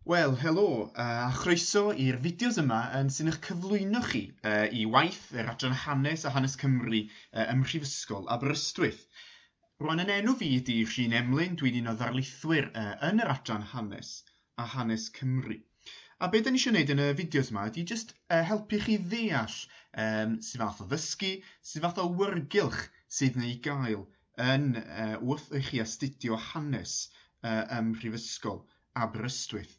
Wel, helo, a chroeso i'r fideos yma yn sy'n eich cyflwyno chi uh, i waith yr Adran Hanes a Hanes Cymru uh, ym Mhrifysgol Aberystwyth. Rwan yn enw fi ydy Rhun Emlyn, dwi'n un o ddarlithwyr uh, yn yr Adran Hanes a Hanes Cymru. A beth dyn ni eisiau gwneud yn y fideos yma ydy jyst uh, helpu chi ddeall um, sy'n fath o ddysgu, sy'n fath o wyrgylch sydd neu gael yn yy wrth i chi astudio hanes yy ym Mhrifysgol Aberystwyth.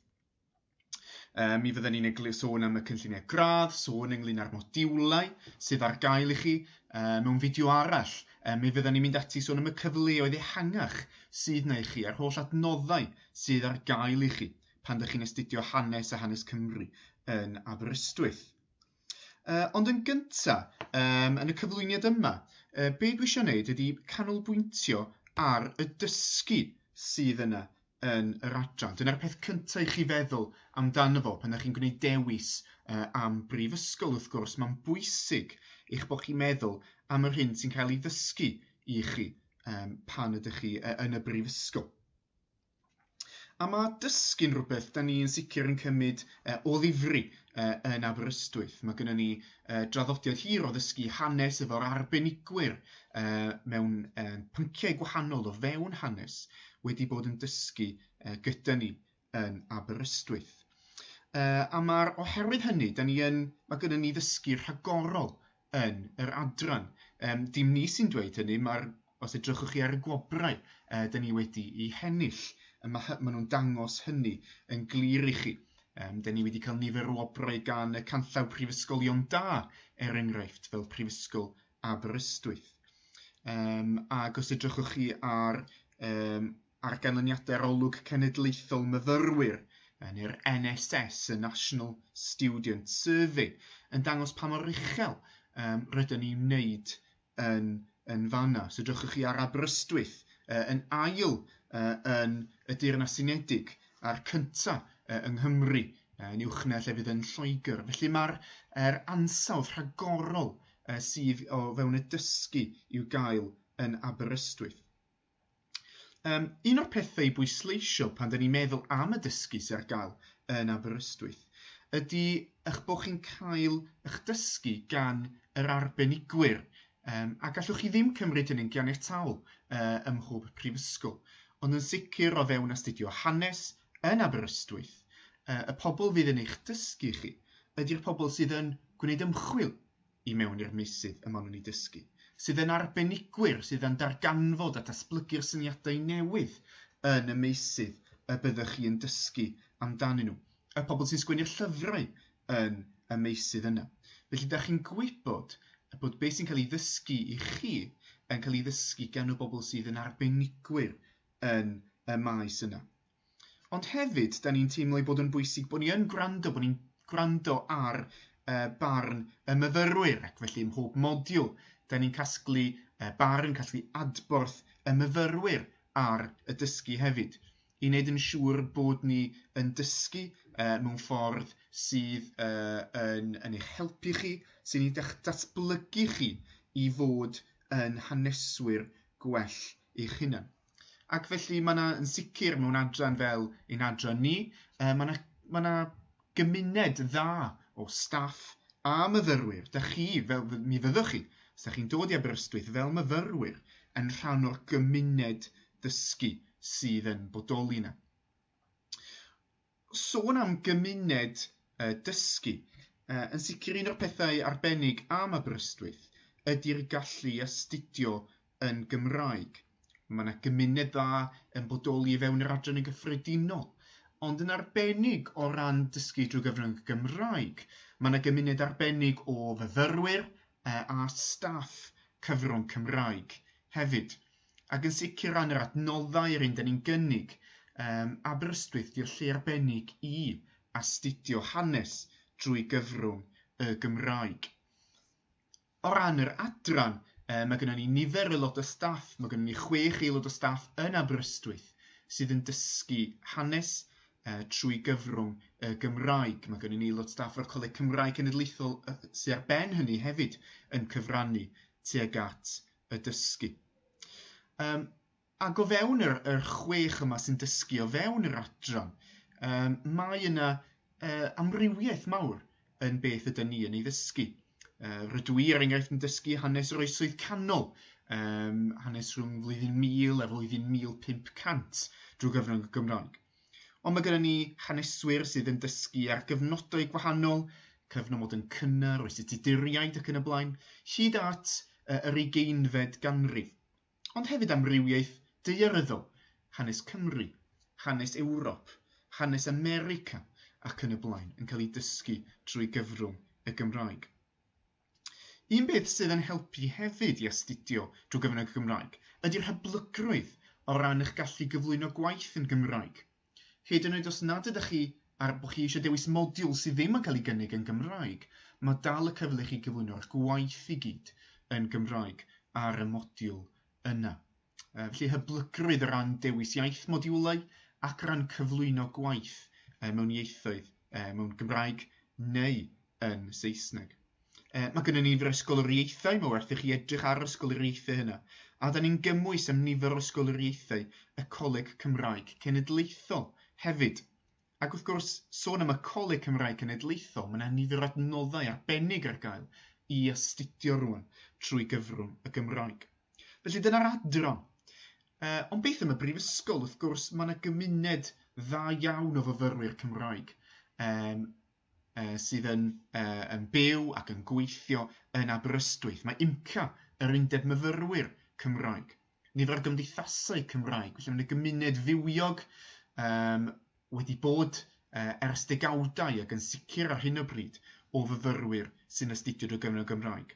Uh, mi fydden ni'n eglur sôn am y cynlluniau gradd, sôn ynglyn â'r modiwlau sydd ar gael i chi uh, mewn fideo arall. Uh, mi fydden ni'n mynd ati sôn am y cyfleoedd ehangach sydd na i chi a'r holl adnoddau sydd ar gael i chi pan ydych chi'n astudio hanes a hanes Cymru yn Aberystwyth. Yy ond yn gynta' yym yn y cyflwyniad yma yy be' dwi isio neud ydi canolbwyntio ar y dysgu sydd yna yn yr adran, dyna'r peth cynta' i chi feddwl amdano fo pan 'dach chi'n gwneud dewis yy am brifysgol wrth gwrs ma'n bwysig eich bo' chi'n meddwl am yr hyn sy'n cael ei ddysgu i chi yym pan ydych chi yy yn y brifysgol. A mae dysgu'n rhywbeth da ni'n sicr yn cymryd uh, o ddifri uh, yn Aberystwyth. Mae gennym ni uh, draddodiad hir o ddysgu hanes efo'r arbenigwyr uh, mewn uh, pynciau gwahanol o fewn hanes wedi bod yn dysgu uh, gyda ni yn Aberystwyth. Uh, a mae'r oherwydd hynny, da ni yn, mae gennym ni ddysgu rhagorol yn yr adran. Yym dim ni sy'n dweud hynny, mae'r... os edrychwch chi ar y gwobrau yy 'dyn ni wedi'u hennill, yy ma' hy- ma' nhw'n dangos hynny yn glir i chi. Yym 'dyn ni wedi cael nifer o wobrau gan y canllaw prifysgolion da, er enghraifft, fel Prifysgol Aberystwyth. Yym ac os edrychwch chi ar yym ar ganlyniadau'r Olwg Cenedlaethol Myfyrwyr, neu'r NSS, y National Student Survey, yn dangos pa mor uchel um, rydyn ni'n wneud yn, yn fanna. So dwch chi ar Aberystwyth uh, yn ail uh, yn y Deyrnas Unedig a'r cynta uh, yng Nghymru uh, yn uwchna lle fydd yn Lloegr. Felly mae'r er ansawdd rhagorol uh, sydd o fewn y dysgu i'w gael yn Aberystwyth. Um, un o'r pethau i bwysleisio pan dyn ni'n meddwl am y dysgu sy'n ar gael yn Aberystwyth ydy eich bod chi'n cael eich dysgu gan yr arbenigwyr um, a gallwch chi ddim cymryd hynny'n ganiataol uh, ym mhob prifysgol. Ond yn sicr o fewn astudio hanes yn Aberystwyth, uh, y pobl fydd yn eich dysgu chi ydy'r pobl sydd yn gwneud ymchwil i mewn i'r meysydd y maen nhw'n eu dysgu, sydd yn arbenigwyr sydd yn darganfod a datblygu'r syniadau newydd yn y meysydd y byddwch chi yn dysgu amdanyn nhw, y pobl sy'n sgwennu'r llyfrau yn y meysydd yna. Felly, da chi'n gwybod bod beth sy'n cael ei ddysgu i chi yn cael ei ddysgu gan y bobl sydd yn arbenigwyr yn y maes yna. Ond hefyd, da ni'n teimlo ei bod yn bwysig bod ni yn gwrando, bod ni'n gwrando ar uh, barn y myfyrwyr ac felly ym mhob modiwl, da ni'n casglu uh, barn, casglu adborth y myfyrwyr ar y dysgu hefyd i wneud yn siŵr bod ni yn dysgu uh, mewn ffordd sydd uh, yn, yn eich helpu chi, sy'n ei datblygu chi i fod yn haneswyr gwell eich hunan. Ac felly mae yna yn sicr mewn adran fel ein adran ni, uh, mae yna ma na gymuned dda o staff a myfyrwyr. Da chi, fel mi fyddwch chi, os da chi'n dod i Aberystwyth fel myfyrwyr, yn rhan o'r gymuned ddysgu sydd yn bodoli yna. Sôn am gymuned uh, dysgu, uh, yn sicr un o'r pethau arbennig am Aberystwyth ydy'r gallu astudio yn Gymraeg. Mae yna gymuned dda yn bodoli i fewn yr adran yn gyffredinol, ond yn arbennig o ran dysgu drwy gyfrwng y Gymraeg. Mae yna gymuned arbennig o fyfyrwyr uh, a staff cyfrwng Cymraeg hefyd. Ac yn sicr ran yr adnoddau yr un dyn ni'n gynnig, um, Aberystwyth di'r lle arbennig i astudio hanes drwy gyfrwng y Gymraeg. O ran yr adran, um, mae gennym ni nifer y lot o staff, mae gennym ni chwech aelod o staff yn Aberystwyth sydd yn dysgu hanes uh, trwy gyfrwng y Gymraeg. Mae gennym ni aelod staff o'r Coleg Cymraeg Cenedlaethol uh, sydd ar ben hynny hefyd yn cyfrannu tuag at y dysgu. Um, ac o fewn yr, yr chwech yma sy'n dysgu, o fewn yr adran, um, mae yna uh, amrywiaeth mawr yn beth ydyn ni yn ei ddysgu. Uh, rydw i, er enghraifft, yn dysgu hanes yr oesoedd canol, um, hanes rhwng flwyddyn 1000 a flwyddyn 1500 drwy gyfrwng y Gymraeg. Ond mae gennym ni haneswyr sydd yn dysgu ar gyfnodau gwahanol, cyfnod yn cynnar oes y Tuduriaid ac yn y blaen, hyd at yr ugeinfed ganrif. Ond hefyd amrywiaeth daearyddol, hanes Cymru, hanes Ewrop, hanes America ac yn y blaen yn cael ei dysgu drwy gyfrwng y Gymraeg. Un peth sydd yn helpu hefyd i astudio drwy gyfrwng y Gymraeg ydy'r hyblygrwydd o ran eich gallu gyflwyno gwaith yn Gymraeg. Hyd yn oed os nad ydych chi ar bo chi eisiau dewis modiwl sydd ddim yn cael ei gynnig yn Gymraeg, mae dal y cyfle i chi gyflwyno'ch gwaith i gyd yn Gymraeg ar y modiwl yna. Felly hyblygrwydd o ran dewis iaith modiwlau ac o ran cyflwyno gwaith mewn ieithoedd, mewn Gymraeg neu yn Saesneg. E, mae gennym ni ysgoloriaethau, mae werth i chi edrych ar ysgoloriaethau hynna, a da ni'n gymwys am nifer o ysgoloriaethau y Coleg Cymraeg Cenedlaethol hefyd. Ac wrth gwrs, sôn am y Coleg Cymraeg Cenedlaethol, mae 'na nifer o adnoddau arbennig ar gael i astudio rŵan trwy gyfrwng y Gymraeg. Felly dyna'r adran. Uh, ond beth am y brifysgol? Wrth gwrs, mae 'na gymuned dda iawn o fyfyrwyr Cymraeg um, uh, sydd yn, uh, yn byw ac yn gweithio yn Aberystwyth. Mae IMCA, yr Undeb Myfyrwyr Cymraeg, nifer o gymdeithasau Cymraeg, felly mae yna gymuned fywiog um, wedi bod uh, ers degawdau ac yn sicr ar hyn o bryd o fyfyrwyr sy'n astudio drwy gyfrwng y Gymraeg.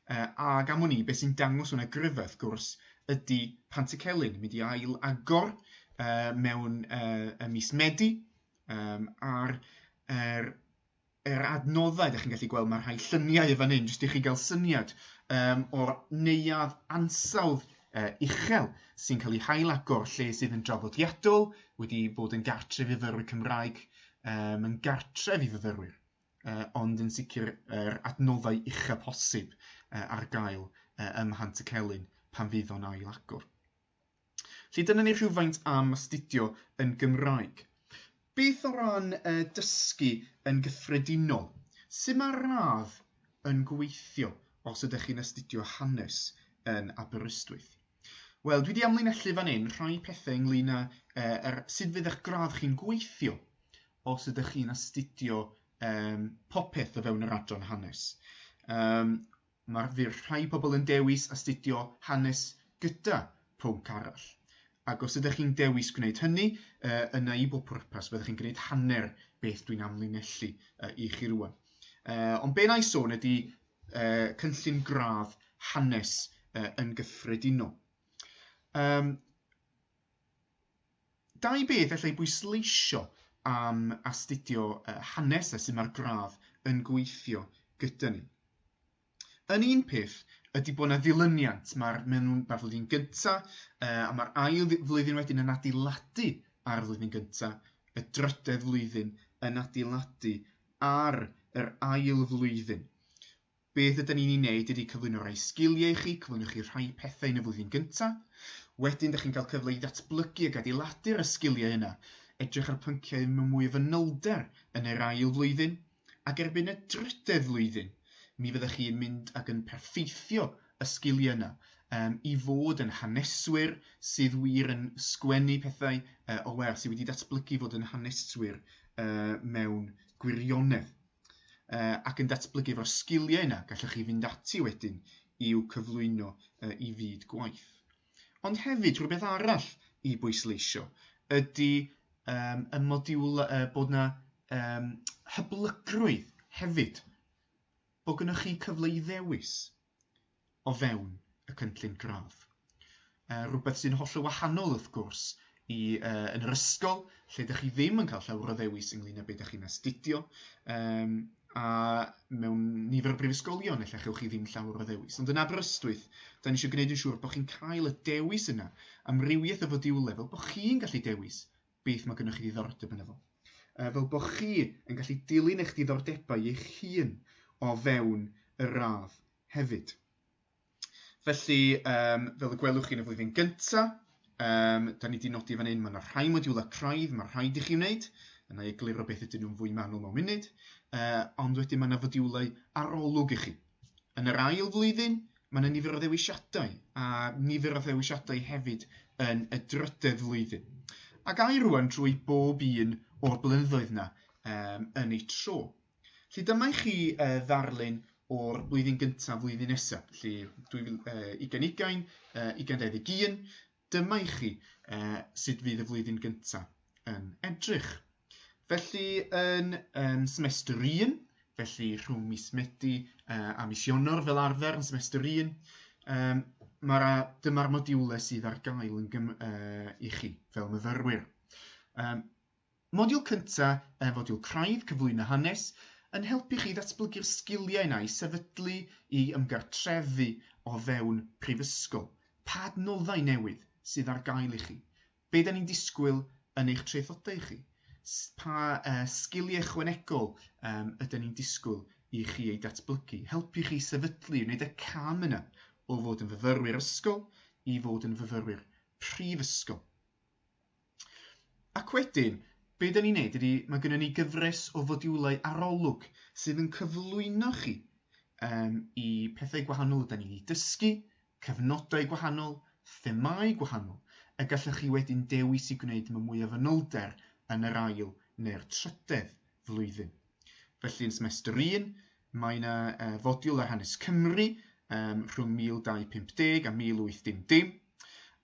Uh, ac am hwnni, beth sy'n dangos hwnna gryfau, wrth gwrs, ydy Pant y Celyn, mynd i ail agor uh, mewn uh, y mis Medi, um, a'r er, yr adnoddau, da chi'n gallu gweld mae rhai lluniau y fan hyn, jyst i chi gael syniad um, o'r neuad ansawdd uh, uchel sy'n cael ei hail agor lle sydd yn draddodiadol, wedi bod yn gartref i fyrwyr Cymraeg, um, yn gartref i fyfyrwyr, uh, ond yn sicr yr er adnoddau uchel posib uh, ar gael uh, ym Mhant y Celyn pan fydd o'n ail agor. Felly dyna ni rhywfaint am astudio yn Gymraeg. Beth o ran uh, dysgu yn gyffredinol? Sut mae'r radd yn gweithio os ydych chi'n astudio hanes yn Aberystwyth? Wel, dwi wedi amlinellu fan hyn rhai pethau ynglyn â uh, er, sut fydd eich gradd chi'n gweithio os ydych chi'n astudio um, popeth o fewn yr adran hanes. Um, Mae'r wir rhai pobl yn dewis astudio hanes gyda pwnc arall. Ac os ydych chi'n dewis gwneud hynny, uh, yna i bob pwrpas, byddwch chi'n gwneud hanner beth dwi'n amlinellu uh, i chi rwan. Uh, ond be na i sôn ydy uh, cynllun gradd hanes uh, yn gyffredinol. Um, Dau beth allai bwysleisio am astudio hanes a sut mae'r gradd yn gweithio gyda ni. Yn un peth ydy bod yna ddilyniant, mae'r flwyddyn gyntaf a mae'r ail flwyddyn wedyn yn adeiladu ar y flwyddyn gyntaf, y drydedd flwyddyn yn adeiladu ar yr ail flwyddyn. Beth ydyn ni'n ei wneud ydy cyflwyno rhai sgiliau i chi, cyflwyno chi rhai pethau yn y flwyddyn gyntaf. Wedyn, da chi'n cael cyfle i ddatblygu ac adeiladu'r y sgiliau yna, edrych ar pynciau mewn mwy o fanylder yn yr ail flwyddyn, ac erbyn y drydedd flwyddyn, mi fyddech chi yn mynd ac yn perffeithio y sgiliau yna um, i fod yn haneswyr sydd wir yn sgwennu pethau uh, o lew, sydd wedi datblygu fod yn haneswyr uh, mewn gwirionedd. uh, ac yn datblygu efo'r sgiliau yna, gallwch chi fynd ati wedyn i'w cyflwyno uh, i fyd gwaith. Ond hefyd, rhywbeth arall i bwysleisio ydy um, y modiwl uh, bod yna um, hyblygrwydd hefyd, bod gennych chi cyfle i ddewis. o fewn y cynllun gradd. Uh, rhywbeth sy'n holl o wahanol wrth gwrs i uh, yn yr ysgol lle ydych chi ddim yn cael llawer o ddewis ynglyn â beth ydych chi'n astudio um, a mewn nifer o brifysgolion efallai chewch chi ddim llawer o ddewis. Ond yn Aberystwyth, da ni eisiau gwneud yn siŵr bod chi'n cael y dewis yna, amrywiaeth o fodiwle, fel bod chi'n gallu dewis beth mae gennych chi ddiddordeb yn efo. Uh, fel bod chi yn gallu dilyn eich diddordebau eich hun o fewn y radd hefyd. Felly, um, fel y gwelwch chi yn y flwyddyn gyntaf, um, da ni wedi nodi fan hyn, mae yna rhai modiwlau craidd, mae rhaid i chi wneud, yna i egluro beth ydyn nhw'n fwy manwl mewn munud, uh, ond wedyn mae yna fodiwlau arolwg i chi. Yn yr ail flwyddyn, mae yna nifer o ddewisiadau, a nifer o ddewisiadau hefyd yn y drydedd flwyddyn. Ac air rwan drwy bob un o'r blynyddoedd yna um, yn ei tro. Felly dyma i chi uh, ddarlun o'r blwyddyn gyntaf, flwyddyn nesaf, felly 2020, uh, 2021. Dyma i chi uh, sut fydd y flwyddyn gyntaf yn edrych. Felly yn um, semester 1, felly rhwng mis Medi uh, a mis Ionor fel arfer yn semester 1, um, mae'r dyma'r modiwle sydd ar gael yn gym, uh, i chi fel myfyrwyr. Um, Modiwl cyntaf ef Modiwl Craidd Cyflwyno Hanes yn helpu chi ddatblygu'r sgiliau yna i sefydlu, i ymgartrefu o fewn prifysgol. Pa adnoddau newydd sydd ar gael i chi? Be da ni'n disgwyl yn eich traethodau chi? Pa sgiliau ychwanegol yda ni'n disgwyl i chi eu datblygu? Helpu chi sefydlu, wneud y cam yna o fod yn fyfyrwyr ysgol i fod yn fyfyrwyr prifysgol. Ac wedyn, be dan ni'n neud ydy, mae gynnon ni gyfres o fodiwlau arolwg sydd yn cyflwyno chi um, i pethau gwahanol ydy ni wedi dysgu, cyfnodau gwahanol, themau gwahanol, y gallwch chi wedyn dewis i gwneud yma mwy o fanylder yn yr ail neu'r trydedd flwyddyn. Felly yn semester 1, Mae yna uh, fodiwl ar hanes Cymru um, rhwng 1250 a 1810.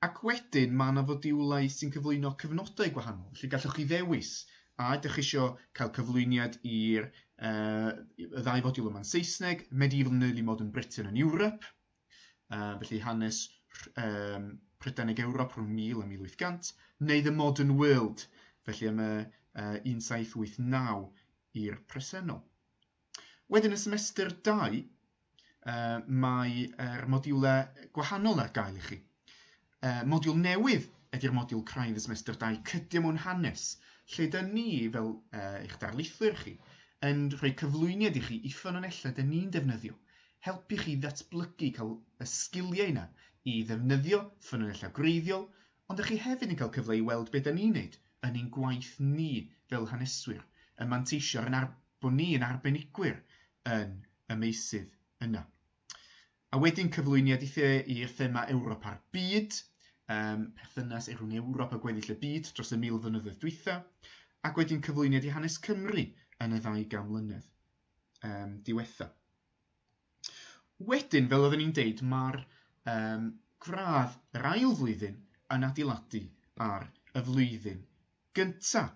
Ac wedyn mae yna fodiwlau sy'n cyflwyno cyfnodau gwahanol. Felly gallwch chi ddewis a ydych chi eisiau cael cyflwyniad i'r uh, y ddau fodiwl yma'n Saesneg, Medieval and Early Modern Britain and Europe, uh, felly hanes um, Prydanig Ewrop rhwng 1000 a 1800, neu The Modern World, felly am y uh, 1789 i'r presennol. Wedyn y semester dau, uh, mae'r modiwlau gwahanol ar gael i chi. Uh, modiwl newydd ydy'r modiwl craidd y semester dau, cydio mewn hanes, lle dyn ni, fel uh, eich darlithwyr chi, yn rhoi cyflwyniad i chi i ffynonellau dyn ni'n defnyddio, helpu chi ddatblygu cael y sgiliau yna i ddefnyddio ffynonellau gwreiddiol Ond dych chi hefyd yn cael cyfle i weld be dan ni'n wneud yn ein gwaith ni fel haneswyr, yn manteisio yn ar- bod ni yn arbenigwyr yn y meysydd yna. A wedyn cyflwyniad i the i'r thema Ewrop a'r byd, um, perthynas rhwng Ewrop a gweddill y byd dros y mil flynyddoedd dwytha, ac wedyn cyflwyniad i hanes Cymru yn y ddau gan mlynedd um, diwetha. Wedyn, fel oedden ni'n deud, mae'r um, gradd yr ail flwyddyn yn adeiladu ar y flwyddyn gyntaf.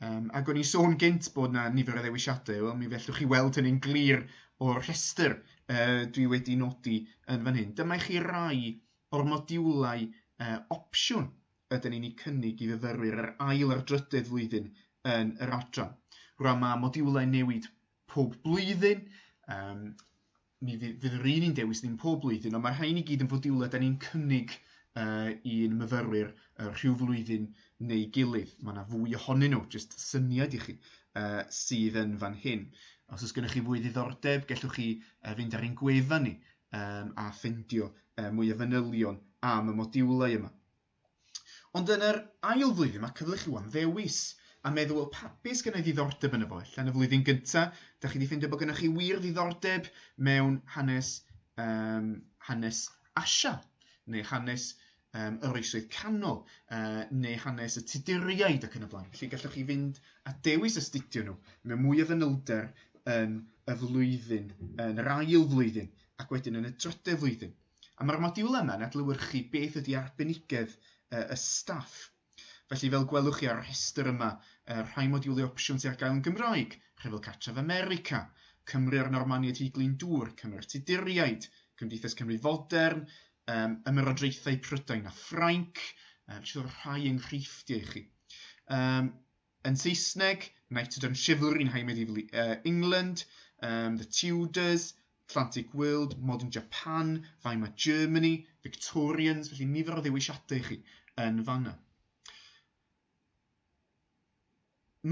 Um, ac o'n i'n sôn gynt bod yna nifer o ddewisiadau, wel, mi fellwch chi weld hynny'n glir o'r rhestr uh, dwi wedi nodi yn fan hyn. Dyma i chi rai o'r modiwlau uh, opsiwn ydyn ni'n ei cynnig i fyfyrwyr yr ail a'r drydydd flwyddyn yn yr adran. Rwy'n mae modiwlau newid pob blwyddyn, um, mi fydd, fydd yr un yn dewis ddim pob blwyddyn, ond mae rhain i gyd yn fodiwlau da ni'n cynnig uh, i'n myfyrwyr uh, rhyw flwyddyn neu gilydd. Mae yna fwy ohonyn nhw, jyst syniad i chi, uh, sydd yn fan hyn. Os oes gennych chi fwy ddiddordeb, gellwch chi uh, fynd ar ein gwefan ni um, a ffendio uh, mwy o fanylion am y modiwlau yma. Ond yn yr ail flwyddyn mae cyfle chi am ddewis a meddwl wel pa beth sydd gen i ddiddordeb yno fo. Ella yn y flwyddyn gynta, da chi wedi ffeindio bod gennych chi wir ddiddordeb mewn hanes um, hanes Asia neu hanes um, yr oesoedd canol uh, neu hanes y Tuduriaid ac yn y blaen. Felly gallwch chi fynd a dewis astudio nhw mewn mwy o fanylder yn y flwyddyn, yn yr ail flwyddyn ac wedyn yn y drydedd flwyddyn. A mae'r modiwl yma yn adlewyrchu beth ydy arbenigedd uh, y staff. Felly fel gwelwch chi ar y rhestr yma, uh, rhai modiwlau opsiwn sy'n ar gael yn Gymraeg, Rhyfel Cartref America, Cymru a'r Normaniaid Hyd Glyn Dŵr, Cymru'r Tuduriaid, Cymdeithas Cymru Fodern, um, Ymerodraethau Prydain a Ffrainc, uh, felly rhai enghreifftiau i chi. Um, Yn Saesneg, Knighted and Chivalry in High Medieval uh, England, um, The Tudors, Atlantic World, Modern Japan, Weimar Germany, Victorians, felly nifer o ddewisiadau i chi yn fanna.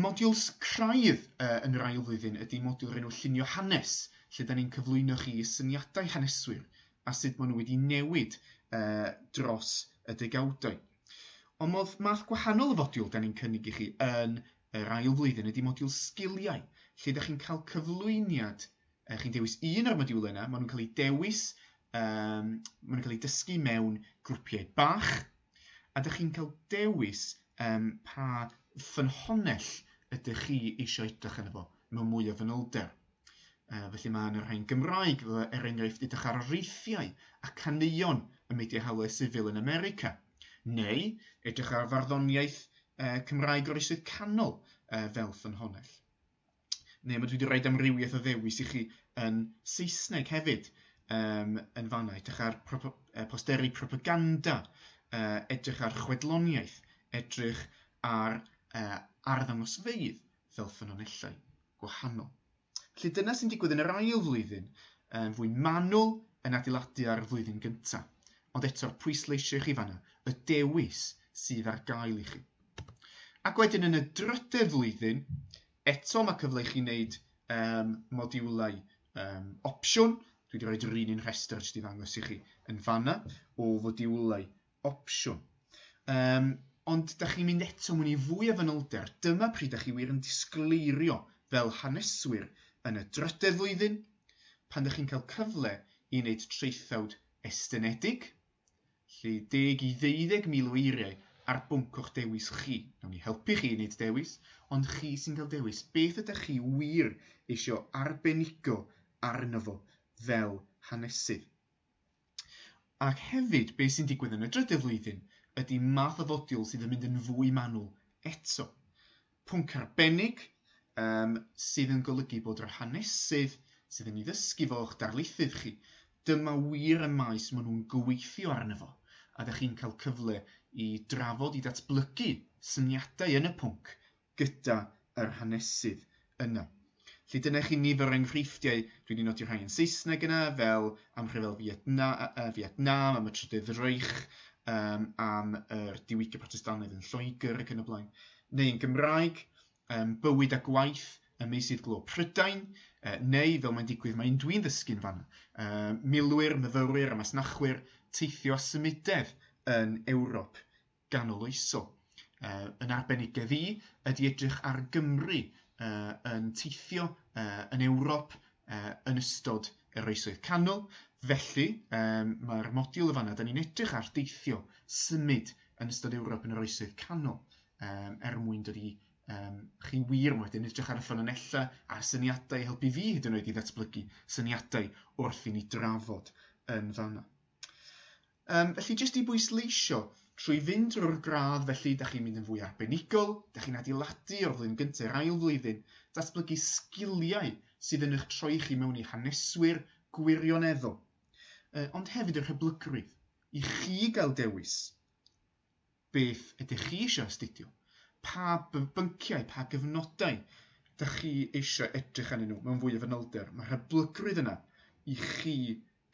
Modiwls craidd uh, yn yr ail flwyddyn ydy modiwl rhenw llunio hanes, lle da ni'n cyflwyno chi syniadau haneswyr a sut maen nhw wedi newid uh, dros y degawdau. Ond modd math gwahanol o fodiwl da ni'n cynnig i chi yn yr ail flwyddyn ydy modiwl sgiliau, lle da chi'n cael cyflwyniad, uh, chi'n dewis un o'r modiwlau yna, maen nhw'n cael eu dewis, um, maen nhw'n cael eu dysgu mewn grwpiau bach, a da chi'n cael dewis um, pa ffynhonnell ydych chi eisiau edrych yn efo mewn mwy o fanylder. Uh, felly mae yna rhain Gymraeg, er enghraifft, edrych ar reithiau a caneuon y media hawliau sifil yn America, neu edrych ar farddoniaeth uh, Cymraeg o'r Isydd Canol uh, fel ffynhonell. Neu mae dwi wedi rhoi amrywiaeth o ddewis i chi yn Saesneg hefyd um, yn fanna, edrych ar propo, uh, posteri propaganda, uh, edrych ar chwedloniaeth, edrych ar uh, arddangosfeydd, fel ffynonellau gwahanol. Felly dyna sy'n digwydd yn yr ail flwyddyn, yn fwy manwl yn adeiladu ar y flwyddyn gyntaf. Ond eto, pwysleisio i chi fanna y dewis sydd ar gael i chi. Ac wedyn yn y drydedd flwyddyn, eto mae cyfle i chi wneud um, modiwlau um, opsiwn. Dwi wedi rhoi yr un un rhestr jyst i ddangos i chi yn fanna o fodiwlau opsiwn. Um, ond da chi'n mynd eto mwyn i fwy o fanylder, dyma pryd da chi wir yn disgleirio fel haneswyr yn y drydedd flwyddyn, pan da chi'n cael cyfle i wneud traethawd estynedig, lle deg i ddeuddeg mil o eiriau ar bwnc o'ch dewis chi. Nawn ni helpu chi i wneud dewis, ond chi sy'n cael dewis beth ydych chi wir eisiau arbenigo arno fo fel hanesydd. Ac hefyd, be sy'n digwydd yn y drydedd flwyddyn ydy math o fodiwl sydd yn mynd yn fwy manwl eto. Pwnc arbennig um, sydd yn golygu bod yr hanesydd sydd yn ei ddysgu fo o'ch darlithydd chi, dyma wir y maes maen nhw'n gweithio arno fo, a da chi'n cael cyfle i drafod, i ddatblygu syniadau yn y pwnc gyda yr hanesydd yna. Felly dyna chi nifer o enghreifftiau, dwi wedi nodi rhai yn Saesneg yna, fel am rhyfel Fietna, uh, Vietnam, am y Trydydd Reich, um, am yr diwygio protestannaidd yn Lloegr ac yn y blaen, neu yn Gymraeg, um, bywyd a gwaith y meysydd glo Prydain, uh, neu fel mae'n digwydd mae'n dwi'n ddysgu'n fan, uh, milwyr, myfyrwyr a masnachwyr teithio a symudedd yn Ewrop ganoloesol. Uh, yn arbenigedd i ydy edrych ar Gymru uh, yn teithio uh, yn Ewrop uh, yn ystod yr oesoedd canol. Felly, um, mae'r modiwl y fanna, da ni'n edrych ar deithio symud yn ystod Ewrop yn yr oesoedd canol um, er mwyn dod i um, chi wir yn wedyn edrych ar y ffynonellau a'r syniadau i helpu fi hyd yn oed i ddatblygu syniadau wrth i ni drafod yn fanna. Um, felly, jyst i bwysleisio, trwy fynd drwy'r gradd felly, da chi'n mynd yn fwy arbenigol, da chi'n adeiladu o'r flwyddyn gyntaf i'r ail flwyddyn, datblygu sgiliau sydd yn eich troi chi mewn i haneswyr gwirioneddol, uh, ond hefyd yr hyblygrwydd i chi gael dewis beth ydych chi eisiau astudio, pa bynciau, pa gyfnodau da chi eisiau edrych arnyn nhw mewn fwy o fanylder. Mae'r hyblygrwydd yna i chi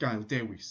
gael dewis.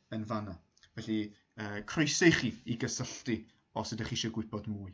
yn fanna. Felly, uh, croeso i chi i gysylltu os ydych chi eisiau gwybod mwy.